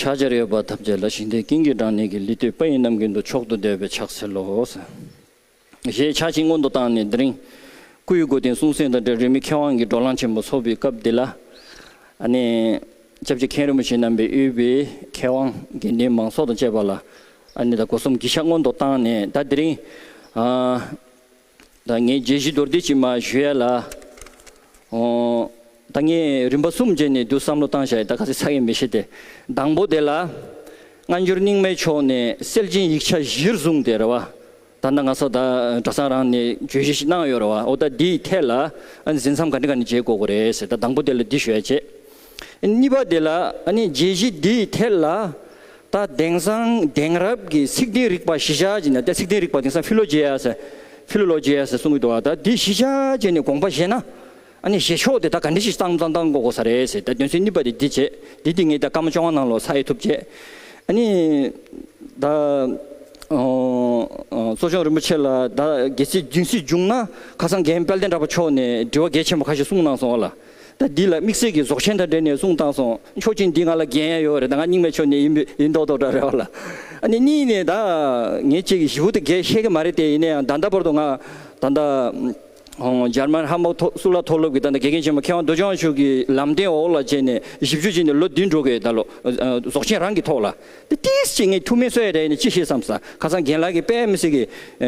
ཕྱག་བྱར་ཡོད་པ་ཐམས་ཅད་ལ་ཞིང་དེའི་ཀིང་ཀི་དྲང་ནས་ཀི་ལི་ཏོའི་པ་ཡིས་རྣམས་ཀུན་ཏུ་མཆོག་ཏུ་བདེ་བའི་ཕྱག་འཚལ་ལོ། ཞེས་ཕྱག་བྱིན་སྔོན་དུ་བཏང་ནས་དེ་རིང་སྐུ་ཡི་སྒོ་བསྟེན་གསུང་གསན་དང་འབྲེལ་རིས་མེད་མཁས་དབང་གི་སྒྲོག་ལང་ཆེན་པོ་འཚོགས་པའི་སྐབས་འདི་ལ། སྐྱབས་རྗེ་མཁན་རིན་པོ་ཆེ་རྣམ་པའི་དབུས་པའི་མཁས་དབང་དགེ་འདུན་མང་ཚོགས་དང་བཅས་པ་ལ། སྒོ་གསུམ་གྱི་ཕྱག་སྔོན་དུ་བཏང་ནས་ད་དེ་རིང། ད་ངས་རྒྱལ་སྲིད་རྡོར་དུས་ཀྱིས་མ་ཞུ་ཡ་ལ། ད་ངས་རིམ་པ་གསུམ་རྗེས་ནས་དུས་བསམ་བློ་བཏང་བྱ་ཡི་ད་ག་ཚད་ཚ་གི་མི་ཤེས་ཏེ། དང་པོ་དེ་ལ། སྔ་འགྱུར་རྙིང་མའི་ཕྱོགས་ནས་སེལ་ཅིང་ཡིག་ཆ་གཞིར་བཟུང་སྟེ་རེད་བ། ད་ལྟ་ང་ཚོ་ད་གྲྭ་ཚང་རང་ནས་བརྗོད་གཞི་ཞིག་གནང་ཡོད་རེད་བ་འོ་ད་འདིའི་ཐད་ལ་འཛིན་མཚམས་ག་འདྲི་ག་འདྲི་བྱེད་དགོས་གི་རེད་ཟེར་ད་དང་པོ་དེ་ལ་འདི་ཞུ་ཡ་བྱེད། གཉིས་པ་དེ་ལ་ནི་རྒྱས་གཞི་འདི་ཡི་ཐད་ལ། ད་དེང་སང་དེང་རབས་ཀྱི་ཚིག་དེའི་རིགས་པ་གཞི་ཆ་ཅན་ནི་ད་ཚིག་དེའི་རིགས་པ་དེང་སང Philogeas Philologias གསུང་གི་འདུག་ཨ་ད་དེ་གཞི་ཆ་ཅན་ནི་དགོངས་པ་བཞེད་ན། བཞེད་ཕྱོགས་དེ་ད་ག་འདྲི་ཞིག་གཙང་གཙང་གཙང་གོ་གོ་ས་རེད་ཟེར་ད་དོན་ཚན་གཉིས་པ་དེ་འདི་བྱས་འདི་འདི་ངས་ད་སྐར་མ་བཅོ་ལྔ་ནང་ལོ་ས་ཨེ་ཐུབ་བྱས། ནི་ད་གསོ་སྦྱོང་རིན་པོ་ཆེ་ལ་ད་གལ་སྲིད་སྦྱིན་སྲིད་འབྱུང་ན་ཁ་སང་རྒན་དཔལ་ལྡན་གྲགས་པ་མཆོག་ནས་འདྲི་བ་གལ་ཆེན་པོ་ཁ་ཤས་གསུང་གནང་སོང་ལ། ད་འདི་ལ་དམིགས་བསལ་གྱི་རྫོགས་ཆེན་དང་འབྲེལ་ནས་གསུང་བཏང་སོང་མཆོག་ཅིག་འདི་ང་ལ་འགན་ཡོད་རེད་ད་ང་རྙིང་མའི་ཆོས་ནས་ཡིན་པས་ཡིན་མདོག་མདོག་འདྲ་རེད་བ་ལ་ཨ་ནི་གཉིས་ནས་ད་ངེད་ཅིག་གིས་ཞི་བུ་དེ་གས་ཤེས་ཀྱི་མ་རེད་དེ་ཡིན་ན་ཡང་ད་ལྟ་བར་དུ་ང་ད་ལྟ་འཇར་མན་ཧམ་བོག་སུ་ལ་མཐོ་སློབ་ཀྱི་ད་ལྟ་དགེ་རྒན་ཆེན་མོ་མཁས་དབང་རྡོ་རྗེ་དབང་ཕྱུག་གི་ལམ་སྟན་འོག་ལ་བྱས་ནས་བཞི་བཅུ་བྱས་ནས་ལོ་བདུན་འགྲོ་གི་ད་ལོ་རྫོགས་ཆེན་རང་གི་ཐོག་ལ་ད་ཏིས་ཅིག་ངས་ཐུགས་མི་གསོ་ཡ་རེད་ནས་ཅི་ཤེས་སམ་ས་ཁ་སང་རྒན་ལགས་ཀྱིས་དཔལ་མི་སྲིད་ཀྱི་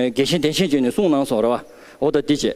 དགེ་ཆེན་གདན་ཆེན་བྱས་ནས་གསུང་གནང་སོང་རེད་བ་འོ་ད་འདི་བྱས།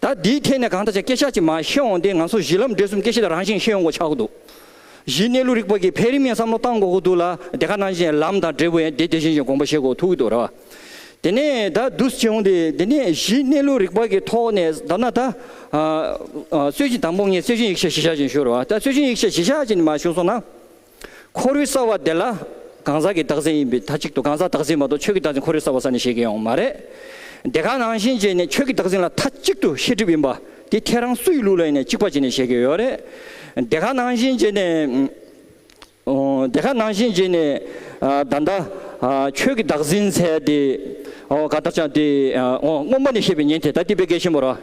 ད་འདིའི་ཐད་ནས་གང་ལྟར་ཆ་སྐད་ཆ་གཅིག་མ་བཤད་འོང་དེ་ང་ཚོ་གཞི་ལམ་འབྲས་གསུམ་སྐད་ཆ་དེ་རང་བཞིན་བཤད་ཡོང་གོ་ཆག་གོ་འདུག་གཞི་གནས་ལུགས་རིག་པ་གི་འཕེལ་རིམ་ཡང་བསམ་བློ་གཏང་དགོ་གོ་འདུག་ལ་དེ་ག་ནང་བཞིན་ལམ་དང་འབྲས་བུ་ཡང་དེ་དེ་བཞིན་བཞིན་དགོངས་པ་བཞེས་གོ་ཐུག་གི་འདུག་རེད་བ། དེ་ནས་ད་བསྡུས་བྱས་འོང་དེ་དེ་ནས་གཞི་གནས་ལུགས་རིག་པ་གི་ཐོག་ནས་བསྡམས་ན་ད། སྲོལ་རྒྱུན་དང་པོ་ངས་སྲོལ་རྒྱུན་ཡིག་ཆ་གཞི་བཞག་ཅིག་ཞུ་རེད་བ་ད་སྲོལ་རྒྱུན་ཡིག་ཆ་གཞི་བཞག་ཅིག་མ་ཞུ་སོང་ན། འཁོར་བའི་ས་བ་དེ་ལ་གང་ཟག་གི་བདག་འཛིན་ཡིན་པའི་མཐའ་གཅིག་ཏུ་གང་ཟག་བདག་འཛིན་མ་གཏོགས་ཆོས་ཀྱི་བདག་འཛིན་འཁོར་བའི་ས་བ་ས་ནས་བཤད་མཁན་ཡོང་མ་རེད། དེ་ག་ནང་བཞིན་བྱས་ནས་ཆོས་ཀྱི་བདག་འཛིན་ལ་མཐའ་གཅིག་ཏུ་ཤེས་སྒྲིབ་ཡིན་པ་དེ་ཁྱེད་རང་སུ་ཡི་ལུགས་ལ་ཡིན་ནས་གཅིག་པ་བྱས་ནས་བཤད་མཁན་ཡོད་རེད། དེ་ག་ནང་བཞིན་བྱས་ནས། དེ་ག་ནང་བཞིན་བྱས་ནས་ད་ལྟ་ཆོས་ཀྱི་བདག་འཛིན་ཚད་དེ་ག་ལྟར་ཆགས་དེ་སྔོན་མ་ནས་བཤད་པའི་ཉན་ཐོས་ད་ལྟའི་དཔེ་གལ་ཆེན་པོ་ར།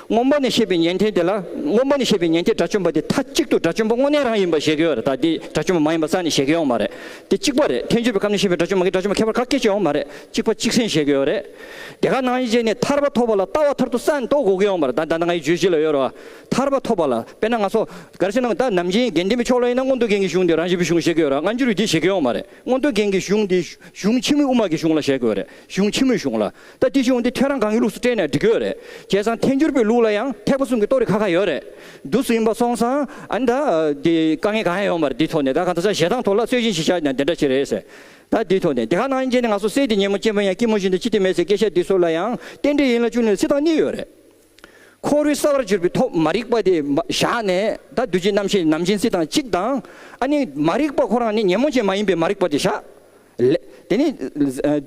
སྔོན་པོ་ནས་བཤད་པའི་ཉན་ཐོས་དེ་ལ་སྔོན་པོ་ནས་བཤད་པའི་ཉན་ཐོས་དགྲ་བཅོམ་པ་དེ་མཐའ་གཅིག་ཏུ་དགྲ་བཅོམ་པ་དངོས་གནས་རང་ཡིན་པར་བཞེད་གི་ཡོད་རེད་ད་དེ་དགྲ་བཅོམ་པ་མ་ཡིན་པ་རྩ་ནས་བཞེད་གི་ཡོང་མ་རེད་དེ་གཅིག་པ་རེད་ཐལ་འགྱུར་བའི་ཁམས་ནས་བཤད་པའི་དགྲ་བཅོམ་པ་གིས་དགྲ་བཅོམ་པ་ཁྱད་པར་ག་སྐད་ཅིག་ཡོང་མ་རེད་གཅིག་པ་གཅིག་སེམས་བཞེད་གི་ཡོད་རེད་དེ་ག་ནང་བཞིན་བྱས་ནས་ཐར་པ་ཐོབ་པ་ལ་ལྟ་བ་ཐར་དུ་ས་ནས་རྟོགས་དགོས་གི་ཡོང་མ་རེད་ད་ད་ནང་ང་ཡི་རྗོད་གཞི་ལ་ཡོད་རེད་བ་ཐར་པ་ཐོབ་པ་ལ་དཔེར་ན་ང་སོགས་ག་རེ་བྱས་ནའང་ད་ནམ་རྒྱན་རྒྱན་ལྡན་པའི་ཕྱོགས་ལ་ཡིན་ན་མངོན་རྟོགས་རྒྱན་གྱི་གཞུང་དེ་རང་བཞིན་པའི་གཞུང་བཞེད་གི་ཡོད་རེད་སྔ་འགྱུར་བའི་དེ་བཞེད་གི་ཡོང་མ་རེད་མངོན་རྟོགས་རྒྱན་གྱི་གཞུང་དེ་གཞུང་ཕྱི་མོའི་དབུ་མ་གི་གཞུང་ལ་བཞེད་གི་ཡོད་རེད་གཞུང་ཕྱི་མོའི་གཞུང་ལ། ད་སྐྱིད་ཆུང་འདི་ཁྱོད་རང་གང་གི་ལུགས་སུ་སྤྲད་ནས་འབྲི་གི་ཡོད་རེད་ཁྱེད་ཚང་ཐེན་འགྱུར་པོའི་ལུགས་ལ་ཡང་ཐེག་པ་གསུམ་གྱི་གཏོ་རི་ཁ་ཁ་ཡོད་རེད་རྡུལ་སུ་ཡིན་པ་སོང་ཙང་ཨ་ནི་ད་འདི་དཀའ་ངལ་གང་ཡང་ཡོང་མ་རེད་འདི་ཐོག་ནས་ད་གང་ད་ས་ཞེ་སྡང་ཐོག་ལ་རྩོད་གཞི་ཞིག་ཆགས་ཀྱང་དེ་འདྲ་ཞིག་རེད་ཟེར་ད་འདི་ཐོག་ནས་འདི་ག་ནང་ཡིན་རྐྱེན་ནི་ང་ཚོ་སྲས་དེ་ཉིན་མོ་གཅེན་པོ་ཡང་སྐྱིད་མོ་བཞིན་དུ་ཁྱི་དེ་མེད་ཟེར་སྐད་ཆ་འདི་ཚོ་ལ་ཡང་རྟེན་འབྲེལ་ཡིན་ལ་ཅུང་ནས་བརྩི་སྟངས་གཉིས་ཡོད་རེད། འཁོར་བའི་ས་བར་གྱུར་པའི་ཐོག་མ་རིག་པ་དེ་བཞག་ནས་ད་གདོད་ཀྱི་རྣམ་ཤེས་ནམ་སྦྱིན་སྲེག་དང་གཅིག་དང། ཨ་ནི་མ་རིག་པ་ཁོ་རང་ནི་ཉོན་མོངས་ཅན་མ་ཡིན་པའི་མ་རིག་པ་དེ་བཞག། ལས་དེ་ནི་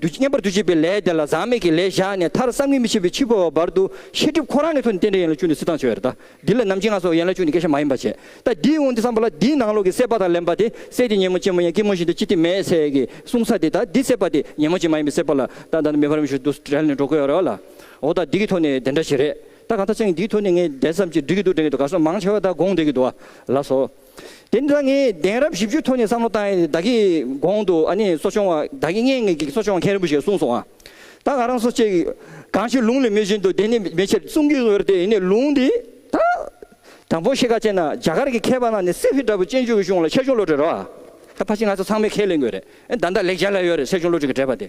བསྙེན་པར་འདུ་བྱེད་པའི་ལས་དེ་ལ་ཟག་མེད་ཀྱི་ལས་བཞག་ནས་མཐར་བསམ་གྱིས་མི་ཁྱབ་པའི་འཆི་འཕོ་བ་བར་དུ་ཤེས་སྒྲིབ་ཁོ་རང་གི་ཐུགས་ནི་རྟེན་འབྲེལ་ཡན་ལག་བཅུ་ནི་སྲིད་དང་བྱེ་བའི་རི་དྭགས་འདི་ལ་ནམ་གྱི་ང་སོགས་ཡན་ལག་བཅུ་ནི་སྐད་ཆ་མ་ཡིན་པར་བྱེད་ད་འདིའི་དབང་དུ་བསམ་པ་ལ་འདིའི་ནང་ལོགས་ཀྱི་སྲེད་པ་དང་ལེན་པ་དེ་སྲེད་དེ་ཉོན་མོངས་ཅན་མོ་ཡང་སྐྱིད་མོ་བཞིན་དུ་ཅི་སྟེ་མེད་ཟེར་གྱི་གསུང་ས་དེ་ད་འདི་སྲེད་པ་དེ་ཉོན་མོངས་ཅན་མ་ཡིན་པའི་སྲེད་པ་ལ་ད་ད་ནི་མེད་པར་མི་ཞུ་དུ་བྲལ་ནས་འགྲོ་དགོས་ཡོད་རེད་བ་ལ། འོ་ད་འདི་གི་ཐོག་ནས་དེ་འདྲ་བྱེད་རེད་ད་གང་ཐ་ཆེང་འདིའི་ཐོག་ནས་ངས་བདེན་བསམ་གྱིས་འབྲི་གི་འདུག་དྲན་གི་འདུག་ག་སོང་མང་ཆེ་བ་ད་དགོངས་བསྡད་ཀྱི་འདུག་བ་ལགས་སོ། དེ་འདྲ་ངས་བདེན་རབས་བཞི་བཅུའི་ཐོག་ནས་བསམ་བློ་བཏང་ཡས་བདག་གིས་དགོངས་འདུག་ཨ་ནི་གསོ་སྐྱོང་བ་བདག་གིས་ངས་ངས་ཀྱི་གསོ་སྐྱོང་བ་མཁན་རིན་པོ་ཆེ་གསུངས་སོང་བ་ད་ག་རང་སོ་ཅེས་གང་ཞིག་ལུང་ལས་མེད་བཞིན་དུ་དེ་ནི་མེད་ཕྱིར་གསུང་གི་འོས་རེད་ཡིན་ནས་ལུང་འདི་ད་དང་པོ་ཤེས་ཁ་ཅན་ན་རྒྱ་གར་གྱི་མཁས་པ་རྣམས་ནས་སེ་བྷི་འདྲ་བོ་ཅན་ཆོས་ཀྱི་གཞུང་ལ་ཆེ་ཆུང་བློ་གྲོས་རོ། ད་ཕ་གཅིག་ང་ཚོ་ཚང་མས་ཁས་ལེན་དགོས་རེད་ད་འདི་ལེགས་སྦྱར་ལ་ཡོད་རེད་སེ་ཆུང་བློ་གྲོས་ཀྱི་འགྲེལ་པ་དེ་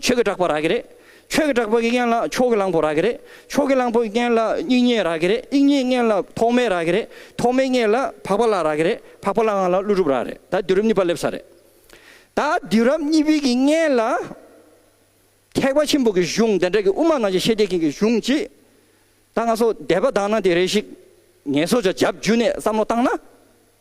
ཆོས་ཀྱི་གྲགས་པ་རག་གི་རེད། ཆོས་ཀྱི་གྲགས་པ་གྱི་རྐྱེན་ལ་ཕྱོགས་ཀྱི་གླང་པོ་རག་གི་རེད། ཕྱོགས་ཀྱི་གླང་པོ་གྱི་རྐྱེན་ལ་དབྱིག་གཉེན་རག་གི་རེད། དབྱིག་གཉེན་གྱི་རྐྱེན་ལ་ཐོགས་མེད་རག་གི་རེད། ཐོགས་མེད་གྱི་རྐྱེན་ལ་འཕགས་པ་ལ་རག་གི་རེད། འཕགས་པ་ལ་ངང་ལ་ཀླུ་སྒྲུབ་རག་རེད། ད་དུས་རབས་གཉིས་པ་སླེབས་ས་རེད། ད་དུས་རབས་གཉིས་པའི་གྱི་རྐྱེན་ལ། ཐེག་པ་ཆེན་པོ་གྱི་གཞུང་དེ་འདྲ་གི་དབུ་མ་ནང་བཞིན་ཤེས་བྱེད་མཁན་གྱི་གཞུང་གཅིག། ད་ང་ཚོ་དད་པ་དང་ན་དེ་རེ་ཞིག་ངལ་གསོ་བྱ་རྒྱབ་འཇུས་ནས་བསམ་བློ་བཏང་ན།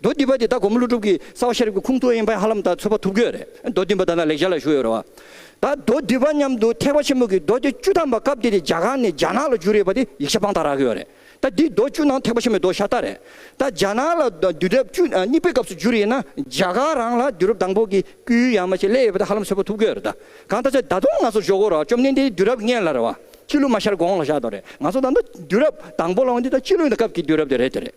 མདོ་འདི་པ་དེ་ད་གོ་མོ་ཀླུ་སྒྲུབ་ཀྱིས་གསང་བ་ཤེས་རབ་ཀྱི་ཁུངས་ཐུགས་དབྱིངས་དཔལ་ཧ་ལམ་ད་ཚོད་པ་ཐུབ་ཀྱི་རེད་མདོ་འདི་པ་ད་ནང་ལེགས་སྦྱར་ལ་བཞུགས་ཡོད་རེད་བ། ད་མདོ་འདི་པ་མཉམ་དུ་ཐེག་པ་ཆེན་མོ་གི་མདོ་སྡེ་བཅུ་ཐམ་པ་སྐབས་དེ་དེ་རྒྱ་གར་ནས་རྒྱ་ནག་ལ་བསྒྱུར་ཡོད་པ་དེ་ཡིག་ཆ་དཔང་རྟགས་རག་གི་ཡོད་རེད་ད་འདི་མདོ་བཅུ་ནང་ཐེག་པ་ཆེན་མོའི་མདོ་ཤ་སྟག་རེད་ད་རྒྱ་ནག་ལ་དུས་རབས་བཅུ་གཉིས་པའི་སྐབས་སུ་བསྒྱུར་ཡིན་ན་རྒྱ་གར་རང་ལ་དུས་རབས་དང་པོ་གི་སྐུའི་ཡང་མ་ཆེ་སླེ་ཡོད་པ་དེ་ཧ་ལམ་ཚོད་པ་ཐུབ་ཀྱི་ཡོད་རེད་ད་གང་ལྟར་ཆ་ད་དུང་ང་ཚོ་ཞོག་གོ་རོགས་བཅོམ་ལྡན་འདས་དུས་རབས་ལྔའི་ལ་རེད་བ། སྤྱི་ལོ་མ་ཤར་གོང་ལ་བཞག་དོ་རེད་ང་ཚོ་ད་ལྟ་དུས་རབས་དང་པོ་ལ་འོང་དུས་ད་སྤྱི་ལོའི་ད་སྐབས་ཀྱི་དུས་རབས་དེ་རེད་དེ་རེད།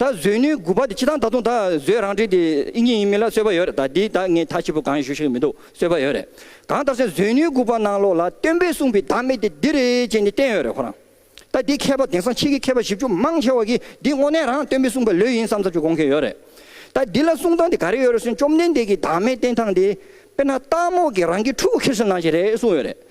ད་གཟོད་ནུས་དགུ་པ་དེ་ཅི་དང་ད་དུང་ད་གཟོད་རང་འགྲེལ་དེ་ཨི་ཉིན་ཡིན་མིན་ལ་སོས་པ་ཡོད་རེད་ད་དེ་ད་ངས་མཐའ་ཕྱི་པོ་གང་ཡང་ཞུ་ཤེས་ཀྱི་མི་འདུག་སོས་པ་ཡོད་རེད་གང་ལྟར་སན་གཟོད་ནུས་དགུ་པ་ནང་ལོགས་ལ་སྟོན་པས་གསུངས་པའི་བདག་མེད་དེ་འདི་རེད་ཅེས་ནི་བསྟན་ཡོད་རེད་ཁོ་རང་ད་དེ་མཁས་པ་དེང་སང་ཕྱིས་ཀྱི་མཁས་པ་བཞི་བཅུ་མང་ཆེ་བ་གིས་འདི་དངོས་གནས་རང་སྟོན་པས་གསུངས་པ་ལོས་ཡིན་བསམ་ཚར་གཅིག་དགོངས་མཁན་ཡོད་རེད་ད་འདི་ལ་གསུངས་སྟངས་དེ་ག་རེ་ཡོད་རེད་སན་བཅོམ་ལྡན་འདས་ཀྱིས་བདག་མེད་བསྟན་སྟངས་དེ་དཔེར་ན་སྟག་མོག་གིས་རང་གི་ཕྲུ་གུ་ཁེར་སོན་གནང་བཞིན་རེད་གསུངས་ཡོད་རེད།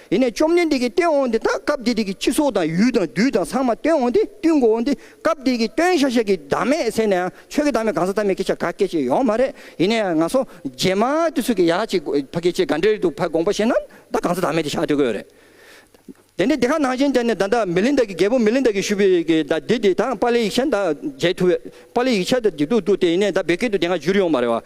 དེ་ནས་བཅོམ་ལྡན་འདས་ཀྱིས་སྟོན་འོངས་ཏེ་ད་སྐབས་དེ་དུས་ཀྱི་ཁྱི་སོགས་དང་ཡུལ་དང་རྡུལ་དང་ཚང་མ་སྟོན་འོངས་ཏེ་བཏུལ་མགོ་འོངས་ཏེ་སྐབས་དེ་ཀྱི་སྟོན་ཤ་ཤེད་ཀྱི་བདག་མེད་ཟེར་ནའང་ཆོས་ཀྱི་བདག་མེད་གང་ཟག་བདག་མེད་སྐད་ཆ་ག་སྐད་ཅིག་ཡོང་མ་རེད་ཡིན་ནའི་ང་སོ་རྗེས་མ་དུས་ཚོད་ཀྱི་ཡག་ཅིག་ཕ་སྐད་ཆའི་ག་འདྲའི་རིགས་འདུག་ཕ་དགོངས་པ་བཞིན་ན་ད་གང་ཟག་བདག་མེད་དེ་ཤ་སྟོན་གི་ཡོད་རེད། དེ་ནས་དེ་ཁ་ནང་བཞིན་དེ་ནས་ད་ད་མི་ལིན་དཱ་ཀྱི་རྒྱལ་པོ་མི་ལིན་དཱ་ཀྱིས་ཞུས་པའི་ཀྱི་ད་དེ་དེ་ད་པཱ་ལའི་ཡིག་ཆ་ད་མཇལ་ཐུབ་པཱ་ལའི་ཡིག་ཆ་ད་འདི་འདུག་འདུག་དེ་ཡིན་ནའི་ད་བོད་སྐད་དུ་དེ་སྔ་བསྒྱུར་ཡོང་མ་རེད་བ།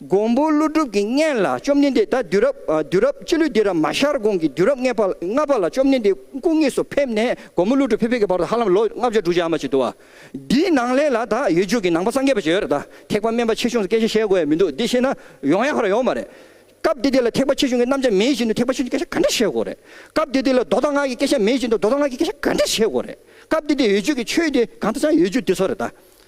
མགོན་པོ་ཀླུ་སྒྲུབ་ཀྱི་བརྔན་ལ་བཅོམ་ལྡན་འདས་ད་དུས་རབས་དུས་རབས་སྤྱི་ལོའི་སྡེ་ར་མ་ཤར་གོང་གི་དུས་རབས་ལྔ་པ་ལ་བཅོམ་ལྡན་འདས་སྐུ་དངོས་སུ་ཕེབས་ནས་མགོན་པོ་ཀླུ་སྒྲུབ་ཕེབས་ཕེབས་ཀྱི་བར་དུ་ཧ་ལམ་ལོ་ལྔ་བརྒྱ་དྲུག་བརྒྱ་འམ་ཅི་འདུག་བ། འདིའི་ནང་ལས་ལ་ད་ཡོད་རྒྱུད་ཀྱི་ནང་པ་སངས་རྒྱས་པ་ཞེས་པར་ད་ཐེག་པ་དམན་པ་ཆེ་ཆུང་སུ་སྐད་ཆ་བཤད་དགོས་ཡ་མི་འདུག་འདི་བཤད་ན་ཡོང་ཡ་ཁ་ར་ཡོང་བ་རེད། སྐབས་དེ་དུས་ལ་ཐེག་པ་ཆེ་ཆུང་གི་རྣམ་གཞག་མེད་བཞིན་དུ་ཐེག་པ་ཆེ་ཆུང་གི་སྐད་ཆ་ག་འདྲ་བཤད་དགོས་རེད། སྐབས་དེ་དུས་ལ་མདོ་དང་སྔགས་ཀྱི་སྐད་ཆ་མེད་བཞིན་དུ་མདོ་དང་སྔགས་ཀྱི་སྐད་ཆ་ག་འདྲ་བཤད་དགོས་རེད། སྐབས་དེ་དུས་ཡོད་རྒྱུད་ཀྱི་ཆོས་དེ་གང་དུ་ཆགས་ཡོད་རྒྱུད་དེ་ཚོ་རེད་ད།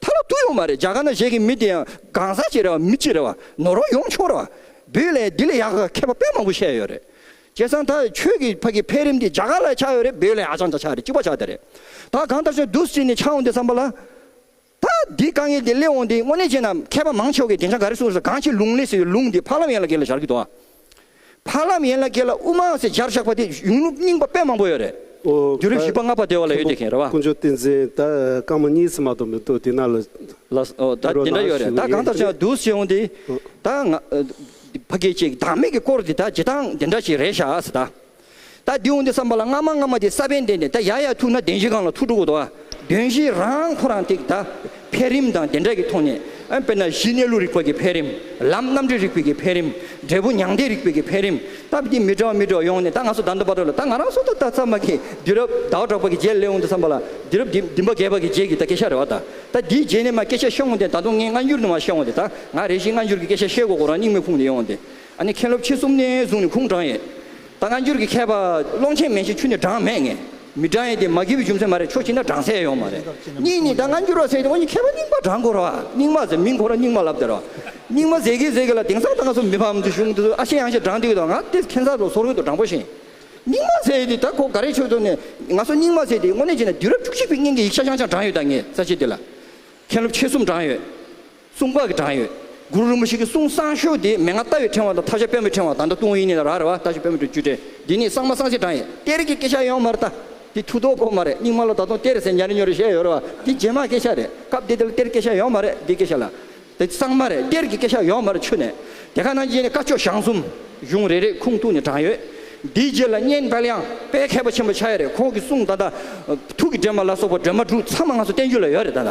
ཐ་ན་དུ་ཡོང་མ་རེད་རྒྱ་གར་ན་བཞེས་མཁན་མི་དེ་ཡང་གང་ཟག་ཅིག་རེད་བ་མི་གཅིག་རེད་བ་ནོར་བ་ཡོང་ཆོག་རེད་བ་འབུད་ལས་འདི་ལས་ཡག་ག་མཁས་པ་དཔེ་མང་པོ་བཤད་ཡོད་རེད་བྱས་ཙང་ད་ཁྱོད་ཀྱི་ཕ་གི་འཕེལ་རིམ་དེ་རྒྱ་གར་ལ་ཆགས་ཡོད་རེད་འབུད་ལས་ཧ་ཅང་ད་ཆགས་རེད་གཅིག་པ་ཆགས་དེ་རེད་ད་གང་ལྟར་ཆོག་འདུག་སྤྱིར་ནས་ཆགས་འོང་དེ་བསམ་པ་ལ་ད་འདི་དཀའ་ངལ་དེ་སླེབས་འོང་དེ་དངོས་གནས་བྱས་ན་མཁས་པ་མང་ཆོག་གི་དེང་ཆ་ག་རེ་གསུངས་ཟེར་གང་ཆེ་ལུང་ལས་ཟེར་བའི་ལུང་དེ་ཕ་ལམ་ཡན་ལ་གེ་ལ་སྦྱར་གི་འདུག་བ། འཕགས་ལམ་ཡན་ལག་བརྒྱད་ལ་དབུ་མ་སེར་སྦྱར་བཞག་པ་དེ་གཞུང་ལུགས་རྙིང་པ་དཔེ་མང་པོ་ཡོད་རེད། རྒྱུད་རིམ་བཞི་པ་ལྔ་པ་བདེ་བ་ལ་ཡོད་བདེ་མཁན་རེད་བ། ཀུན་སྤྱོད་བསྟན་འཛིན་ད་སྐར་མ་གཉིས་ཚེ་མ་ཐོབ་མི་འདུག་དེ་ན་ལ་ལ་ད་དེ་འདྲ་ཡོད་རེད་ད་གང་ལྟར་བྱས་བསྡུ་བྱས་འོང་དེ་ད་ང་ཕ་སྐད་ཅིག་བདག་མེད་ཀྱི་སྐོར་དེ་ད་བྱེད་སྟངས་དེ་འདྲ་ཞིག་རེད་ཤག་ད། ད་དེ་འོང་དེ་བསམ་པ་ལ་སྔ་མ་སྔ་མ་དེ་ས་བོན་ལྡན་ཏེ་ད་ཡར་ཡར་ཐུག་ན་བདེན་བཞི་གང་ལ་ཐུག་འགྲོ་གོ་ཏོ། བདེན་བཞི་རང་ཁོ་རང་ཐིག་ད་འཕེལ་རིམ་དང་དེ་འདྲ་གི་ཐོག་ནས་དཔེར་ན་གཞི་གནས་ལུགས་རིག་པ་གི་འཕེལ་རིམ་ལམ་རྣམ་འགྲེལ་རིག་པའི་གི་འཕེལ་རིམ་འབྲས་བུ་མྱང་འདས་རིག་པའི་གི་འཕེལ་རིམ་ད་བས་ཏེ་མི་དྲོ་མི་དྲོ་ཡོང་ནས་ད་ང་སོ་ད་འདོད་པ་འདོད་ལ་ད་ང་རང་སོ་ད་ད་ཚར་མ་གི་དུས་རབས་ཟླ་བ་གྲགས་པ་གི་རྗེས་སླེ་འོང་དེ་བསམ་པ་ལ་དུས་རབས་འདི་འདི་འབའ་རྒས་པ་གི་རྗེས་གི་ད་སྐད་ཆ་རེ་བ་ད་ད་དེའི་རྗེས་ནས་མ་སྐད་ཆ་ཤོང་ངོ་དེ་ད་དུང་ངས་སྔ་འགྱུར་ནས་མ་ཤོང་བ་དེ་ད་ང་རེ་ཞིག་སྔ་འགྱུར་གི་སྐད་ཆ་བཤད་གོ་གོ་རང་སྙིང་མེ་ཕུང་དེ་ཡོང་དེ། ཨ་ནི་མཁན་སློབ་ཁྱེད་གསུམ་ནི་གཟུངས་ནི་ཁུངས་དྲངས་ཡས། ད་སྔ་འགྱུར་གྱི་མཁས་པ་ཀློང་ཆེན་མན་ཞིག་ཆུ་ནི་དྲངས་མེད་ངེས། མི་དྲངས་ཡས་དེ་མ་གི་བའི་རྒྱུ་མཚན་མ་རེད་ཆོག་ཅིག་ན་དྲངས་སའི་ཡོང་མ་རེད། གཉིས་ནི་ད་སྔ་འགྱུར་བ་ཟེར་གྱི་འོ་ནི་མཁས་པ་རྙིང་པ་དྲངས་དགོས་ར་བ། རྙིང་མ་ཟེར་མིང་གོ་ར་རྙིང་མ་ལབ་དེ་ར་བ། རྙིང་མ་ཟེར་གི་ཟེར་གི་ལ་དེང་སང་ད་སྔ་སུ་མི་ཕམ་དུ་བཞུགས་འདུག་ཨ་ཤེ་ཡང་ཤེ་དྲངས་འདུག་གི་ད་སྔ་དེ་མཁན་ས་ལོ་སོ་རོལ་དུ་དྲངས་པོ་ཞིང། རྙིང་མ་ཟེར་ཡས་དེ་ད་གོ་ག་རེ་ཆོག་ཆོག་ནས། ང་སུ་རྙིང་མ་ཟེར་དེ་དངོས་གནས་བྱས་ན་དུས་རབས་བཅུ་གཅིག་པའི་སྙིང་གི་ཡིག་ཆ་ཤང་ཤང་དྲངས་ཡོད་ད་ངས་ས་ཤེས་དེ་ལ། མཁན་སློབ་ཁྱེད་གསུམ་དྲངས་ཡོད། གསུང་སྐབས་ཀྱི་གྲངས་ཡོད། གུ་རུ་རིན་པོ་ཆེ་གི་གསུང་གསང་ཤོག་དེ་མན་ངག་རྟ་བའི་ཕྲེང་བ་དང་ཐབས་ཤ་དཔལ་མོའི་ཕྲེང་བ་དང་ད་ཏུང་ཡིན་ནི་ལ་རག་རེད་བ་ད་ཤ་དཔལ་མོ་དྲུག་ཅུ་ཕྲེང་འདི་ནི་གསང་མ་གསང་ཞེས་གྲངས་ཡོད། གཏེར་གྱི་སྐད་ཆ་ཡོང་མ་རེད་ད། འདི་ཐུགས་དོགས་སྐོར་མ་རེད་རྙིང་མ་ལ་ད་ཏུང་གཏེར་ཟེར་ཉར་ཉོ་རེད་བཤད་ཡོད་རེད་བ་འདི་རྗེས་མ་སྐད་ཆ་རེད་སྐབས་དེ་དེ་ལ་གཏེར་སྐད་ཆ་ཡོང་མ་རེད་འདི་སྐད་ཆ་ལ། འདི་གསང་མ་རེད་གཏེར་གྱི་སྐད་ཆ་ཡོང་མ་རེད་ཆུ་ནས་དེ་ག་ནང་རྗེས་ནས་བཀའ་ཆོས་ཞང་གསུམ། གཞུང་རེ་རེ་ཁུངས་ཐུགས་ནས་གྲངས་ཡོད། འདིའི་རྗེས་ལ་གཉན་དཔལ་དབྱངས་དཔལ་མཁས་པ་ཆེན་པོ་ཆགས་ཡོད་རེད་ཁོང་གི་གསུང་ད་ད། ཐུགས་ཀྱི་སྒྲོན་མ་ལ་སོགས་པ་སྒྲོན་མ་དྲུག་ཚང་མ་ང་ཚོ་བསྟན་རྒྱུ་ལ་ཡོད་རེད་ད་ད།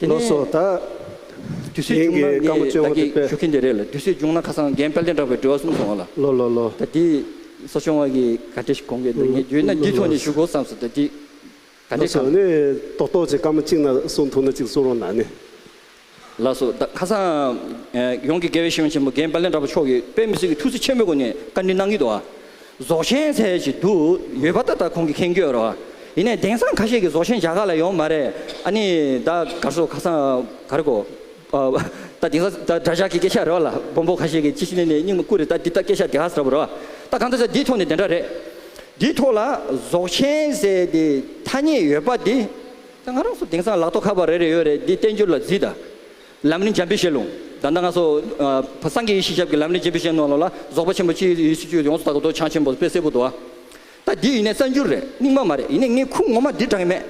དེ་ནས་དུས་ཚོད་བྱུང་ན་ངས་བདག་གིས་ཞུ་མཁན་དེ་རེད་ལ་དུས་ཚོད་བྱུང་ན་ཁ་སང་རྒན་དཔལ་ལྡན་གྲགས་པའི་འགྲེལ་བ་གསུམ་གོང་ལ་ད་འདི་གསོ་སྦྱོང་བ་གི་ག་འདྲེ་ཞིག་གོང་གི་འདུག་ངས་བརྗོད་ན་འདི་ཐོག་ནས་ཞུ་དགོས་བསམས་སོ་ད་འདི་ག་འདྲེ་གང། ཏོག་ཏོག་ཅིག་སྐར་མ་གཅིག་ན་གསུང་ཐུག་ན་གཅིག་གསུང་རོགས་གནང་ནི། ལགས་སོ་ད་ཁ་སང་ཡོངས་ཀྱི་དགེ་བའི་བཤེས་གཉེན་ཆེན་མོ་རྒན་དཔལ་ལྡན་གྲགས་པ་མཆོག་གིས་དཔལ་མི་སྲིད་ཀྱི་ཐུགས་བརྩེ་ཆེན་པོའི་སྒོ་ནས་བཀའ་འདྲི་གནང་གི་འདུག་ཨ། རྫོགས་ཆེན་ཚལ་ཞིག་དུ་ཡོད་པ་ད་ལྟ་ཁོང་གིས་ཁེངས་ཁྱོད་རོ། ཡིན་ནས་དེང་སང་ཁ་ཤས་ཀྱིས་རྫོགས་ཆེན་བྱ་ག་ལ་ཡོང་མ་རེད་ཨ་ནི་ད་གར་སོ་ཁ་སང་གར་གོ། ད་དེང་སང་ད་དགྲ་ཇག་གི་སྐད་ཆ་རེད་བ་ལ་སྦོམ་པོ་ཁ་ཤས་ཀྱིས་ཅི་ཞིག་ནས་ནས་སྙིང་མ་བརྐུ་རེད་ད་འདི་ད་སྐད་ཆ་དེ་ག་ཟེར་བ་རེད་བ། ད་གང་ད་ཟེར་འདིའི་ཐོག་ནས་དེ་འདྲ་རེད། འདིའི་ཐོག་ལ་རྫོགས་ཆེན་ཟེར་དེ་ཐ་སྙད་ཡོད་པ་འདི། ད་ང་རང་ཚོ་དེང་སང་ལག་ཐོག་ཁ་པར་རེ་རེ་ཡོད་རེད་འདི་བསྟན་འགྱུར་ལ་བརྫིས་ད། ལམ་རིམ་འཇམ་པའི་བཤད་ལུང། བདག་མདའ་ལྔ་སོགས། སངས་རྒྱས་ཡེ་ཤེས་ཞབས་ཀྱི་ལམ་རིམ་འཇམ་པའི་བཤད་ནོར་ལ་ལ། རྫོགས་པ་ཆེན་པོ་སྤྱིའི་ཡེ་ཤེས་བཅུད་ཡོངས་སུ་དག་གི་མདོ་བྱང་ཆེན་པོ་དཔེ་གསལ་པོ་དུ་བ། ད་འདི་ཡིན་ནས་གསར་འགྱུར་རེད་རྙིང་མ་མ་རེད་ཡིན་ནས་ངས་ཁུངས་ངོ་མ་འདིར་དྲངས་ཀྱི་མེད།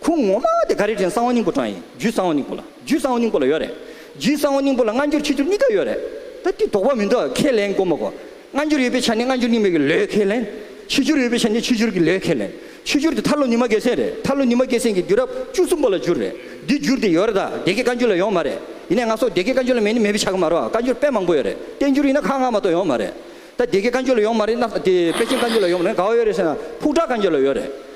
ཁུངས་ངོ་མ་དེ་ག་རེ་དྲན་གསང་བ་སྙིང་པོ་དྲངས་ཡིན་རྒྱུད་གསང་བ་སྙིང་པོ་ལ་རྒྱུད་གསང་བ་སྙིང་པོ་ལ་ཡོད་རེད། རྒྱུད་གསང་བ་སྙིང་པོ་ལ་སྔ་འགྱུར་ཕྱི་འགྱུར་གཉིས་ཀ་ཡོད་རེད། ད་འདི་དོགས་པ་མི་འདུག་ཁས་ལེན་དགོས་མ་དགོས། སྔ་འགྱུར་ཡོད་པའི་ཆ་ནས་སྔ་འགྱུར་རྙིང་མའི་གི་ལོའི་ཁས་ལེན། ཕྱི་འགྱུར་ཡོད་པའི་ཆ་ནས་ཕྱི་འགྱུར་གི་ལོའི་ཁས་ལེན། ཕྱི་འགྱུར་དེ་ཐར་ལོ་ཉི་མ་བརྒྱད་ཚན་རེད། ཐར་ལོ་ཉི་མ་བརྒྱད་ཚན་གྱི་འགྱུར་རབས་བཅུ་གསུམ་པོ་ལ་འགྱུར་རེད། འདི་འགྱུར་དེ་ཡོད་རེད་ད། སྡེ་དགེ་བཀའ་འགྱུར་ལ་ཡོང་མ་རེད། ཡིན་ནའི་ང་སོགས་སྡེ་དགེ་བཀའ་འགྱུར་ལ་མེད་ནི་མེད་པའི་ཆ་གི་མ་རེད། བཀའ་འགྱུར་དཔེ་མང་པོ་ཡོད་རེད། བསྟན་འགྱུར་ཡིན་ན་ཁག་ལྔ་མ་གཏོགས་ཡོང་མ་རེད། ད་སྡེ་དགེ་བཀའ་འགྱུར་ལ་ཡོང་མ་རེད། དེ་པེ་ཅིང་བཀའ་འགྱུར་ལ་ཡོང་མ་རེད། ག་བ་ཡོད་རེད་ཟེར་ན་ཕུག་བྲག་བཀའ་འགྱུར་ལ་ཡོད་རེད།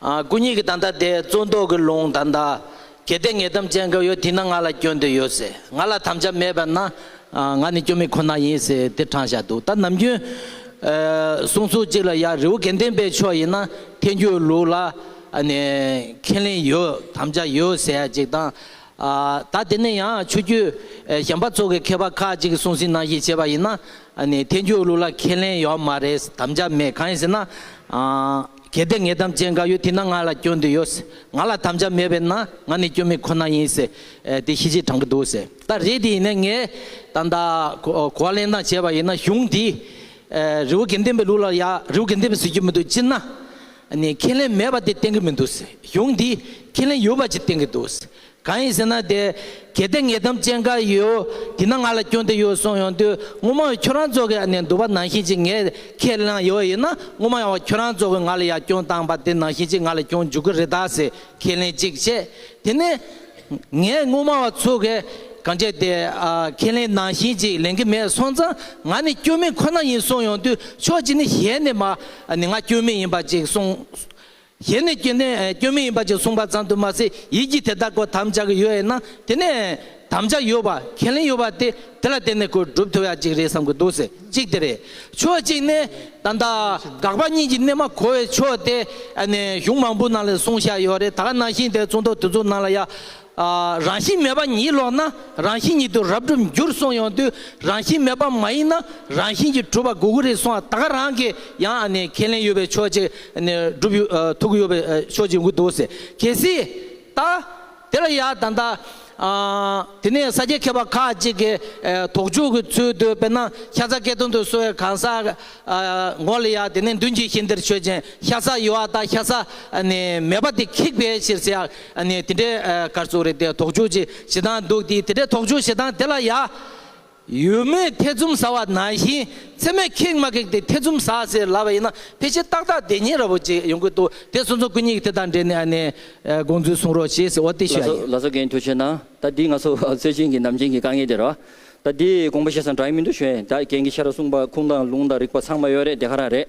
སྐུ་ཉིད་ཀྱི་ད་ལྟ་དེ་བཙོན་ཐོག་གི་ལུང་ད་ལྟ། གལ་ཏེ་ངེས་གཏམ་ཅན་གབ་ཡོད་དེས་ན་ང་ལ་སྐྱོན་དེ་ཡོད་ཟེར། ང་ལ་དམ་བཅའ་མེད་པས་ན། ང་ནི་སྐྱོན་མེད་ཁོ་ན་ཡིན་ཟེར་དེ་དྲང་བཞག་འདུག་ད་ནམ་རྒྱུན། གསུང་ཚུལ་གཅིག་ལ་ཡང་རི་བོ་དགེ་ལྡན་པའི་ཕྱོགས་ཡིན་ན་ཐལ་འགྱུར་ལུགས་ལ། ཁས་ལེན་ཡོད་དམ་བཅའ་ཡོད་ཟེར་ཡ་ཅིག་དང། ད་དེ་ནས་ཡང་ཆོས་བརྒྱུད་གཞན་པ་ཚོ་གི་མཁས་པ་ཁག་ཅིག་གསུང་ཟིན་གནང་གཞི་བྱས་པ་ཡིན་ན། ཐལ་འགྱུར་ལུགས་ལ་ཁས་ལེན་ཡོད་མ་རེད་དམ་བཅའ་མེད་གང་ཡིན་ཟེར་ན། གལ་ཏེ་ངས་དམ་བཅས་འགའ་ཡོད་དེས་ན་ང་ལ་སྐྱོན་དེ་ཡོད། ང་ལ་དམ་བཅའ་མེད་པས་ན་ང་ནི་སྐྱོན་མེད་ཁོ་ན་ཡིན། དེ་ཤེས་ཆེས་དྲང་པོ་འདུག། ད་རེས་དེ་ཡིན་ན་ངས་ད་ལྟ་གོ་བ་ལེན་སྟངས་བྱས་པ་ཡིན་ན་གཞུང་འདིས་རི་བོ་དགེ་ལྡན་པའི་ལུགས་ལ་ཡང་རི་བོ་དགེ་ལྡན་པས་བཟོས་ཀྱི་མི་འདུག་སྤྱིར་ན་ཁས་ལེན་མེད་པ་དེ་བསྟན་གྱི་མི་འདུག་གཞུང་འདིས་ཁས་ལེན་ཡོད་པ་ཅིག་བསྟན་གྱི་འདུག་གང་ཡིན་ཟེར་ན་དེ་གལ་ཏེ་ངས་དམ་བཅས་འགའ་ཡོད་དེ་ན་ང་ལ་སྐྱོན་དེ་ཡོད་གསུངས་ཡོང་དུས་ངོ་མ་ཁྱོད་རང་ཚོ་གི་ནས་འདུག་པ་ནང་བཞིན་གྱིས་ངས་ཁས་བླངས་ཡོད་ཡིན་ན་ངོ་མ་ཡང་ཁྱོད་རང་ཚོ་གི་ང་ལ་ཡར་སྐྱོན་བཏང་པ་དེ་ནང་བཞིན་གྱིས་ང་ལ་སྐྱོན་འཇུག་གི་རེད་ད་ཟེར་ཁས་ལེན་ཅིག་བྱས་དེ་ནས་ངས་ངོ་མ་བ་ཚོ་གི་གང་བྱས་དེ་ཁས་ལེན་ནང་བཞིན་གྱིས་ལེན་གི་མེད་སོང་ཙང་ང་ནི་སྐྱོན་མེད་ཁོ་ན་ཡིན་གསུངས་ཡོང་དུས་ཕྱོགས་གཅིག་ནས་གཞན་ནས་མ་ནི་ང་སྐྱོན་མེད་ཡིན་པ་ཅིག་གསུངས། གཞན་ནས་སྐྱོན་ནི་སྐྱོན་མིན་ཡིན་པ་ཅིག་གསུངས་པ་ཙམ་དུ་མ་ཟད་ཡིད་ཀྱིས་དེ་ལྟར་གོ་དམ་བཅའ་གི་ཡོད་ཡིན་ན་དེ་ནི་དམ་བཅའ་ཡོད་པ་ཁས་ལེན་ཡོད་པ་དེ་དེ་ལ་བརྟེན་ནས་གོ་སྒྲུབ་ཐུབ་ཡ་གཅིག་རེད་བསམ་གི་འདུག་ཟེར་གཅིག་དེ་རེད་ཕྱོགས་གཅིག་ནི་ད་ལྟ་དགག་པ་གཉིས་ཀྱི་གནད་མ་གོ་བའི་ཕྱོགས་དེ་ནི་གཞུང་མང་པོའི་ནང་ལས་གསུངས་བཞག་ཡོད་རེད་ད་ག་ནང་བཞིན་དེ་ཚོང་དོག་དེ་ཚོའི་ནང་ལ་ཡ་རང་བཞིན་མེད་པ་ཉིད་ལོག་ན་རང་བཞིན་ཉིད་དུ་རབ་གྲུབ་འགྱུར་གསུངས་ཡོང་དུས་རང་བཞིན་མེད་པ་མ་ཡིན་ན་རང་བཞིན་གྱིས་གྲུབ་པ་དགོས་ཀྱི་རེད་གསུངས་བ་ད་ག་རང་གིས་ཡང་ཁས་ལེན་ཡོད་པའི་ཕྱོགས་གཅིག་སྒྲུབ་ཡོད་ཐུག་གི་ཡོད་པའི་ཕྱོགས་གཅིག་འགུག་འདུག་ཟེར་གལ་སྲིད་ད་དེ་ལ་ཡང་ད་ལྟ་དེ་ནས་ས་སྐྱའི་མཁས་པ་ཁག་ཅིག་གིས་དོགས་འཇུག་གི་ཚུལ་དུ་དཔེར་ན་ཤ་ཚ་སྐད་དོན་དུ་གསོལ་བའི་གང་ཟག་མགོ་ལ་ཡང་དེ་ནས་མདུན་གྱི་ཤིང་དེར་ཆོས་ཅན་ཤ་ཚ་ཡོད་བ་དང་ཤ་ཚ་མེད་པ་དེ་ཁེགས་པའི་ཕྱིར་ཟེར་ཡང། ཨ་ནི་དེ་འདྲའི་སྐར་ཚོགས་རེ་དེ་དོགས་འཇོག་ཅིག་བྱེད་སྟངས་འདུག་དེ་དེ་འདྲའི་དོགས་འཇོག་བྱེད་སྟངས་དེ་ལ་ཡ། ཡུལ་མིའི་ཐེ་ཚོམ་ཟ་བ་ནང་བཞིན་ཚད་མས་ཁེགས་མ་ཁེགས་དེ་ཐེ་ཚོམ་ཟ་ཟེར་ལབ་པ་ཡིན་ན་ཕལ་ཆེར་ཏག་ཏག་བདེན་གཉིས་ར་བོ་ཅིག་ཡོང་གི་འདུག་དེ་སོང་ཙང་སྐུ་ཉིད་ཀྱི་དེ་དང་འབྲེལ་ནས་ཨ་ནི་དགོངས་ཚུལ་གསུང་རོགས་ཞེས་ཟེར་བ་དེ་ལ་ཤེས་ཡ་ཡིན། ལ་སོ་རྒན་ཁྱོད་ཆོས་ན་ད་འདི་ང་ཚོ་སྲོལ་རྒྱུན་གྱི་ནམ་རྒྱུན་གྱི་དཀའ་ངལ་དེ་རེད་བ། ད་འདི་དགོངས་པ་བཤད་སང་དྲག་ཡིན་མི་འདུག་ཞོན་ད་རྒན་གྱི་ཤ་ར་གསུངས་པ་ཁུངས་དང་ལུང་དང་རིགས་པ་ཚང་མ་ཡོད་རེད་དེ་ག་རང་རེད།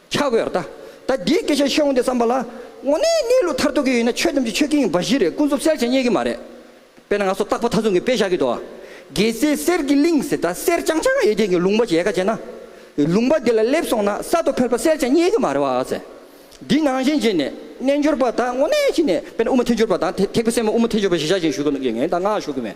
ཆགས་དགོས་ར་ད། ད་འདིའི་སྐད་ཆ་ཤོད་འོང་སྟེ་བསམ་པ་ལ། དངོས་གནས་གནས་ལུགས་མཐར་ཐུག་གི་ཡིན་ན་ཆོས་ཐམས་ཅད་ཆོས་ཀྱི་ཡིན་པ་བཞི་རེད་ཀུན་རྫོབ་གསལ་བྱེད་རྙེད་ཀྱི་མ་རེད། དཔེར་ན་ང་ཚོ་རྟག་པ་མཐའ་མཚུངས་ཀྱི་དཔེ་བཞག་གི་འདུག་ཨ། རྒྱལ་སྲས་གསེར་གྱི་གླིང་ཟེར་ད་གསེར་རྐྱང་རྐྱང་ཡོད་དེ་གི་ལུང་པ་ཞེས་ཀ་བྱས་ན། ལུང་པ་དེ་ལ་སླེབས་སོང་ན་ས་ཐོབ་ཕེར་པ་གསལ་བྱེད་རྙེད་ཀྱི་མ་རེད་བ་ཨ་ཟེར། འདི་ནང་བཞིན་བྱས་ནས་རྣལ་འབྱོར་པ་དག་དངོས་གནས་བྱས་ནས་དཔེར་ན་དབུ་མ་ཐལ་འགྱུར་པ་དང་དེ་ཐེག་པའི་སེམས་དབུ་མ་ཐལ་འགྱུར་པ་ཞེས་བཞག་བཞིན་ཞུ་གི་འདུག་ངས་ད་སྔགས་ཞུ་གི་མེད།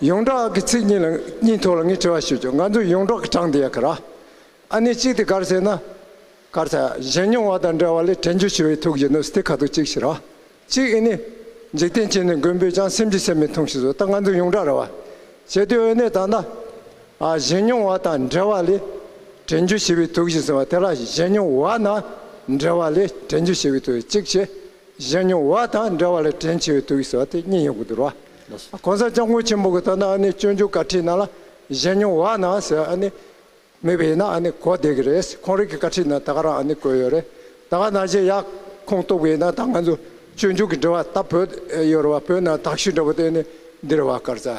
ཡོངས་གྲགས་ཀྱི་ཚིག་གཉིས་ལ་གཉིས་ཐོག་ལ་ངས་དྲི་བ་ཞུ་རྒྱུ་ང་ཚོ་ཡོངས་གྲགས་ཀྱི་གྲངས་དེ་ཡ་གི་ར། ཨ་ནི་གཅིག་དེ་གར་ཟེར་ན། གར་ཚ་གཞན་མྱོང་བ་དང་འདྲ་བ་ལས་དྲན་རྒྱུ་ཞུ་བའི་ཐུགས་ཀྱི་ནུབ་སྟེ་ཁ་ཐུག་གཅིག་ཞིག་ར། གཅིག་ཨི་ནི། འཇིག་རྟེན་གཅིག་ནི་མགོན་པོས་ཀྱང་སེམས་ཀྱི་སེམས་མི་ཐུང་ཞིག་བཟོ་ད་ང་ཚོ་ཡོངས་གྲགས་ར་བ། གལ་ཏེ་འོད་ནས་ད་ན། ཨ་གཞན་མྱོང་བ་དང་འདྲ་བ་ལས། དྲན་རྒྱུ་ཞི་བའི་ཐུགས་ཞིག་ཟེར་བ་དེ་ར་གཞན་མྱོང་བ་ན། འདྲ་བ་ལས་དྲན་རྒྱུ་ཞི་བའི་ཐུགས་གཅིག་བྱེད། གཞན་མྱོང་བ་དང་འདྲ་བ་ལ་དྲིན་ཆེ་བའི་དུག་གསོ་བ་དེ་གཉིས་ཡོང་གི་འདུག་ར། གོང་ས་སྐྱབས་མགོན་ཆེན་པོ་གི་ལྟར་ན་ཨ་ནི་སྤྱོད་འཇུག་བཀའ་ཁྲིད་ནང་ལ་གཞན་མྱོང་བ་ན་ཟེར་ཨ་ནི་མེད་པ་ཡིན་ན་ཨ་ནི་གོ་བདེ་གི་རེད་ཁོང་རིགས་ཀྱི་བཀའ་ཁྲིད་ནང་ད་ག་རང་ཨ་ནི་བཀོད་ཡོད་རེད་ད་ག་ན་གཞན་ཡག་ཁོང་རྟོགས་པའི་ཡིན་ན་ད་ང་ཚོ་སྤྱོད་འཇུག་གི་འདྲི་བ་ལྟ་བོད་ཡོད་རེད་བ་བོད་ནང་དག་ཞུས་འདྲ་བོ་དེ་ནི་འདི་རེད་བ་སྐར་རྩ།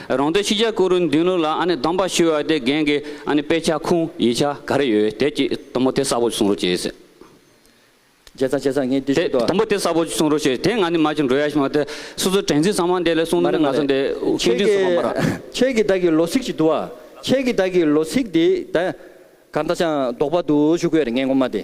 རང་དོན་ཕྱི་རྒྱལ་སྐུ་རུ་འདུན་ལུགས་ལ་ཨ་ནི་དམ་པ་ཞུ་བ་དེ་རྒན་གི་ཨ་ནི་དཔེ་ཆ་ཁུངས་ཡིག་ཆ་ག་རེ་ཡོད་དེ་གཅིག་དུམ་བུ་དེ་གསར་བོ་གསུང་རོགས་བྱེད་ཟེར། བྱས་ཙང་བྱས་ཙང་ངས་འདི་ཞུས་ཏོ། དུམ་བུ་དེ་གསར་བོ་གསུང་རོགས་བྱེད་དེ་ང་ནི་མ་ཅིག་འགྲོ་ཡ་ཞིག་མ་དེ་སོ་སོའི་དྲན་ཚིག་ཚང་མ་འདི་ལས་གསུང་མ་རེད་མ་རེད་མ་རེད་ཁྱེད་ཀྱི་ཁྱེད་ཀྱི་བདག་གི་ལོ་ཚིགས་ཅིག་འདུག་ཨ་ཁྱེད་ཀྱི་བདག་གི་ལོ་ཚིགས་འདི་ད་ག་འདྲ་ཅང་དོག་པ་འདུག་ཞུ་དགོས་རེད་ངས་ངོ་མ་དེ་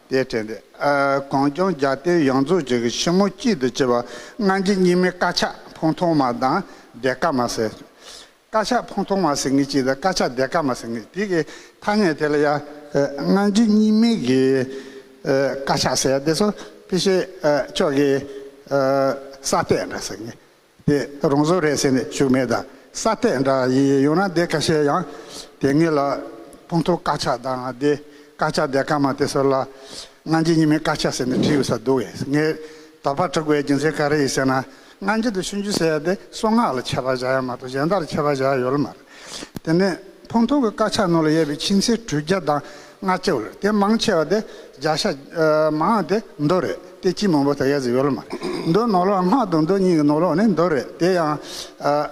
དེའི་དྲན་ཏེ། གངས་ལྗོངས་རྒྱ་སྟོད་ཡོངས་རྫོགས་ཀྱི་ཕྱི་མོ་སྐྱིད་དུ་བསྐྱིལ་བ་སྔ་འགྱིང་སྙིགས་མའི་དཀར་ཆག་ཕུང་ཐོག་མ་དང་བདེ་དཀར་མ་ཟེར། དཀར་ཆག་ཕུང་ཐོག་མ་ཟེར་ངེས་ཀྱི་དང་དཀར་ཆག་བདེ་དཀར་མ་ཟེར་ངེས་དེ་གི་ཐ་སྙད་དེ་ལ་ཡང། སྔ་འགྱིང་སྙིགས་མའི་གི་དཀར་ཆག་ཟེར་དེ་སོགས་ཕལ་ཆེར་ཕྱོགས་ཀྱི་ས་སྟེགས་འདྲ་ཟེར་ངེས། དེ་རང་བཟོ་རེད་ཟེར་ནས་ཞུགས་མེད་དང་ས་སྟེགས་འདྲ་ཡི་ཡོད་ན་དེ་ཁ་ཤས་ཡང་དེ་སྔའི་ལ་ཕུང་ཐོ་དཀར་ཆག་དང་དེ་དཀར་ཆག་དེ་སྐར་མ་དེ་ཚོ་ལ་སྔ་འགྱིད་ཉི་མའི་དཀར་ཆག་ཟེར་ནས་བྲིས་ཡོད་ས་འདུག་གས་ངས་དོགས་པ་དྲུག་པའི་རྒྱུ་མཚན་ག་རེ་ཡིན་ཟེར་ན་སྔ་འགྱིད་དུ་ཤུན་རྒྱུ་ཟེར་ཡ་དེ་སོ་ནག་ལ་ཆད་པ་བཞག་ཡ་མ་གཏོགས་གཞན་དག་ལ་ཆད་པ་བཞག་ཡོད་ལ་མ་རེད། དེ་ནས་ཕུང་ཐུག་གི་དཀར་ཆག་ནོར་ལ་གཡས་པའི་ཕྱིན་ཆད་གྲུ་བརྒྱ་དང་ལྔ་སྤྱི་བོར་དེ་མང་ཆེ་བ་དེ་བརྒྱ་ཤ་མང་དེ་མདོ་རེད་དེ་སྤྱི་མང་པོ་དེ་གཡས་སུ་ཡོད་ལ་མ་མདོའི་ནོར་ལོག་སྔགས་དང་མདོ་གཉིས་ཀྱི་ནོར་ལོག་ནི་མདོ་རེད་དེ་ཡང་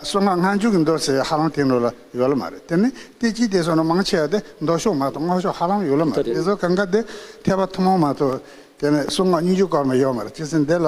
སོ་ལྔ་ལྔ་མཇུག་གི་མདོ་ཟེར་ཧ་ལམ་དེ་ནོར་ལ་ཡོད་ལ་མ་རེད་དེ་ནི་དེ་སྤྱི་དེ་སོ་ན་མང་ཆེ་བ་དེ་མདོ་ཤོག་མ་གཏོགས་སྔགས་ཤོག་ཧ་ལམ་ཡོད་ལ་མ་རེད་དེ་སོ་ག་འགའ་དེ་ཐེག་པ་ཐུན་མོང་མ་གཏོགས་དེ་ནི་གསུང་སྔགས་སྙིང་བཅུ་སྐོར་མ་ཡོད་མ་རེད་སྤྱི་ཟིན་དེ་ལ་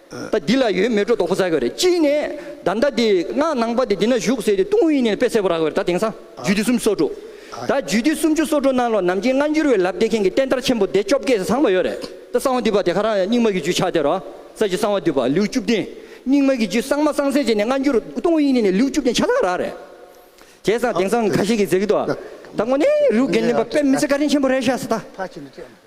ད་འདི་ལ་ཡོད་མེད་སྒྲོ་འདོགས་པོ་ཟ་དགོས་རེད་གཅིག་ནས་ད་ཟླ་འདི་སྔགས་ནང་པ་དེ་འདི་ན་བཞུགས་ཟེར་ཏེ་ཏུང་ཧོའི་ཡིན་ནི་ནས་དཔེ་གསལ་པོ་རག་དགོས་རེད་ད་དེང་སང་རྒྱུད་སྡེ་སུམ་སོ་དྲུག་ད་རྒྱུད་སྡེ་སུམ་ཅུ་སོ་དྲུག་ནང་ལོ་ནམ་རྒྱུན་སྔ་འགྱུར་བའི་ལབ་བདེ་མཁན་གྱི་བསྟན་དར་ཆེན་པོ་སྡེ་བཅོ་བརྒྱད་ཟང་པ་ཡོད་རེད་ད་གསང་བ་འདུས་པ་དེ་ག་རང་རྙིང་མ་གི་རྒྱུད་ཆགས་དེ་རོ་ས་ཀྱི་གསང་བ་འདུས་པ་ལེའུ་བཅུ་བདུན་རྙིང་མ་གི་རྒྱུད་གསང་མ་གསང་སེ་བྱས་ནས་སྔ་འགྱུར་ཏུང་ཧོའི་ཡིན་ནི་ནས་ལེའུ་བཅུ་བདུན་ཆགས་ཐག་རག་རེད་དེ་སང་དེང་སང་ག་ཞིག་གིས་ཟེར་གི་འདུག་ད་ངོ་ནས་རིའུ་རྒན་ནི་པ་དཔེ་མི་ཚེ་བཀའ་དྲིན་ཆེན་པོ་རེད་ཤ་ས་ད།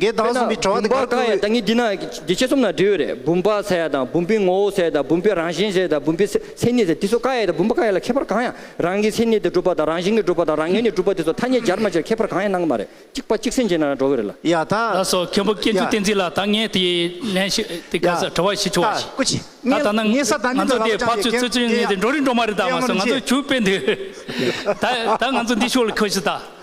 འགལ་དཔེར་ན་ཟླ་གསུམ་པའི་བུམ་པ་གང་ཡང་ད་ངས་འདི་ན་འདི་ཆེ་གསུམ་ན་འབྲི་འོས་རེད་བུམ་པ་ཟེར་ཡ་དང་བུམ་པའི་ངོ་བོ་ཟེར་དང་བུམ་པའི་རང་བཞིན་ཟེར་དང་བུམ་པའི་མཚན་ཉིད་ཟེར་དེ་ཚོ་ཀ་ཡ་དང་བུམ་པ་ཀ་ཡ་ལ་ཁྱད་པར་གང་ཡང་རང་གི་མཚན་ཉིད་དེ་གྲུབ་པ་དང་རང་བཞིན་གྱི་གྲུབ་པ་དང་རང་ངེས་ནས་གྲུབ་པ་དེ་ཚོ་ཐ་སྙད་སྦྱར་མ་སྦྱར་ཁྱད་པར་གང་ཡང་སྣང་གི་མ་རེད་གཅིག་པ་གཅིག་སེམས་ཅན་ན་རང་གྲོགས་གི་རེད་ལ། ཡ་ད། ད་སོ་མཁན་པོ་སྐྱེ་འཇུག་བསྟན་འཛིན་ལ་ད་ངས་དེ་ལན་ཞིག་དེ་ག་ས་བྲི་བ་ཞིག་བྱུང་བ་ཞིག་ད་ད་ན་ང་ཚོ་དེ་ཕར་ཚུར་ཚུར་ཚུར་ངས་དེ་འགྲོ་རིན་འགྲོ་མ་རེད་ད་མ་སོ་ང་ཚོ་བྱུས་དཔེ་འདི་ད་ད་ང་ཚོ་འདི་ཤོག་ལ་ཁོ་ཤི་ད།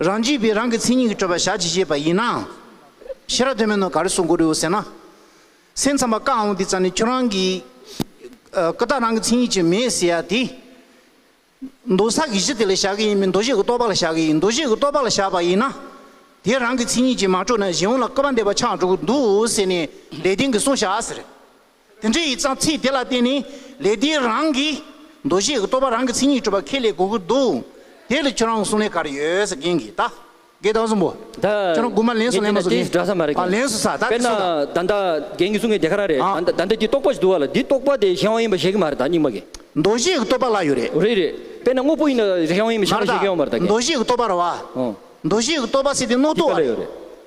རང་རྒྱུད་པས་རང་གི་མཚན་ཉིད་ཀྱི་སྤྲོས་པ་བཞག་ཅེས་བཤད་པ་ཡིན་ནའང། ཤེས་རབ་དོན་མེད་ནོ་ག་རེ་གསུང་དགོས་རིགས་ཟེར་ན། སེམས་ཙམ་པ་བཀའ་འོང་འདི་ཙམ་ནས་ཁྱོད་རང་གི། ཀུན་བརྟགས་རང་གི་མཚན་ཉིད་ཅིག་མེད་ཟེར་ཡ་དེ། མདོ་བསགས་ཀྱི་གཞི་དེ་ལ་བཞག་གི་ཡིན་མིན་མདོ་བཞི་ཀྱི་རྟོགས་པ་ལ་བཞག་གི་ཡིན་མདོ་བཞི་ཀྱི་རྟོགས་པ་ལ་བཞག་པ་ཡིན་ན། དེ་རང་གི་མཚན་ཉིད་ཅིག་མ་གྲུབ་ན་གཞན་དབང་ལ་སྐལ་པ་འདས་པ་ཆགས་འགྲོ་གི་འདུག་ཟེར་ནས་ལས་དོན་གྱི་གསུང་བཞག་ཟེར། དེ་འདྲའི་ཡིག་ཚང་ཚིག་དེ་ལ་བརྟེན་ནས་ལས་དེའི་རང་གི་འདུ་ཤེས་ཀྱི་རྟོག་པ་རང་གི་མཚན་ཉིད་གྲུབ་པ་ཁས་ལེན་དགོས་ཀྱི་འདུག་དེ་ལ་ཁྱོད་རང་གི་གསུང་ལས་གར་ཡོད་ཟེར་མཁན་གྱི་ད་གེ་དང་གསུམ་པོ་ཁྱོད་རང་དགུ་མ་ལན་སུ་ལན་མ་སུ་ལན་ཨ་ལན་སུ་ས་ད་དེ་སུ་ད། དཔེར་ན་ད་ལྟ་རྒན་གྱི་གསུང་གི་དེ་ག་རང་རེད་ད་ལྟ་འདི་རྟོག་པ་ཞིག་འདུག་བ་ལ་འདི་རྟོག་པ་དེ་གཞན་དབང་ཡིན་པ་བཞེད་ཀྱི་མ་རེད་ད་རྙིང་མ་གི། འདུ་ཤེས་ཀྱི་རྟོག་པ་ལ་ཡོད་རེད། རེད་རེད་དཔེར་ན་དངོས་པོ་ཡིན་ན་གཞན་དབང་ཡིན་པ་བཞེད་ཀྱི་ཡོད་མ་རེད་ད་གེ། འདུ་ཤེས་ཀྱི་རྟོག་པ་ར་བ། འདུ་ཤེས་ཀྱི་རྟོག་པ་སྲིད་དེ་རྣོ་རྟོག་བ་རེད།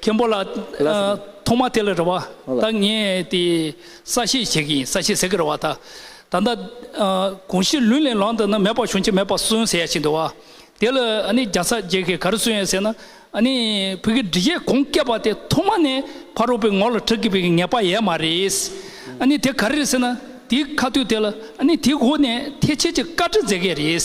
མཁན་པོ་ལགས། ཐོག་མ་དེ་ལ་རེ་བ་ད་ངས་དེ་ས་བཤད་བྱེད་ཀྱི་ཡིན་ས་བཤད་ཟེར་གི་རེ་བ་ད། ད་ལྟ་གོང་ཞིག་ལུས་ལས་ལངས་འདུག་ན་མེད་པ་བྱུང་ཆེ་མེད་པ་གསོན་ཟེར་ཡ་བྱས་འདུག་བ། དེ་ལ་ཨ་ནི་རྒྱ་ས་རྒྱལ་ཁས་ག་རེ་གསོན་ཡ་ཟེར་ན་ཨ་ནི་བོད་ཀྱི་འབྲི་བྱེད་གོང་བཀད་པ་དེ་ཐོག་མ་ནས་ཕ་རོལ་པོའི་ངོ་ལ་ཁྲག་གི་བུ་གི་ངེས་པ་ཡས་མ་རེད། ཨ་ནི་དེ་ག་རེ་རེད་ཟེར་ན་དེའི་ཁ་ཐུག་དེ་ལ་ཨ་ནི་དེའི་སྒོ་ནས་ཐེ་ཆེ་ཆེ་བཀའ་ཁྲི་མཛད་མཁན་རེད།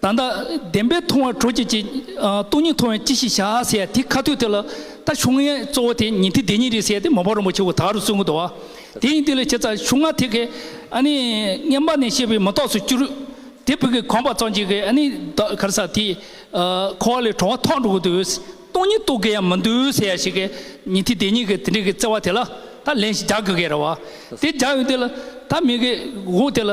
ད་ལྟ་བདེན་པའི་མཐོང་བ་དྲོ་སྐྱིད་ཀྱི། སྟོང་ཉིད་མཐོང་བས་ཅི་ཞིག་བྱ་ཟེར་ཡ་དེ་ཁ་ཐོད་དེ་ལ། ད་ཆུང་ངའི་གཙོ་བོ་དེ་ཉིད་དེ་བདེན་གཉིས་རེད་ཟེར་ཏེ་མ་བ་རིན་པོ་ཆེ་བོ་དག་རུ་བཙུན་གོ་དོ། དེ་ཡིན་དེ་ལས་བྱེད་ཚ་ཆུང་ང་དེ་གའི། བརྔན་པ་ནས་བཤད་པའི་མི་རྟོགས་སུ་གྱུར། དེ་བུ་གའི་གོམ་པ་གཙང་བྱེད་གའི། ག་རེ་ས་དེ། འཁོར་བ་ལས་གྲོགས་བ་ཐོག་འགྲོ་གོ་དོ། སྟོང་ཉིད་རྟོགས་གི་ཡ་མི་འདུག་ཟེར་ཡ་ཞིག་གའི། ཉིད་དེ་བདེན་གཉིས་གའི་དེ་འདྲའི་གའི་བརྩེ་བ་དེ་ལ། ད་ལན་ཞིག་རྒྱག་གི་གའི་ར་བ། དེ་རྒྱག་ཡོང་དེ་ལ། ད་མི་གའི་དགོངས་དེ་ལ།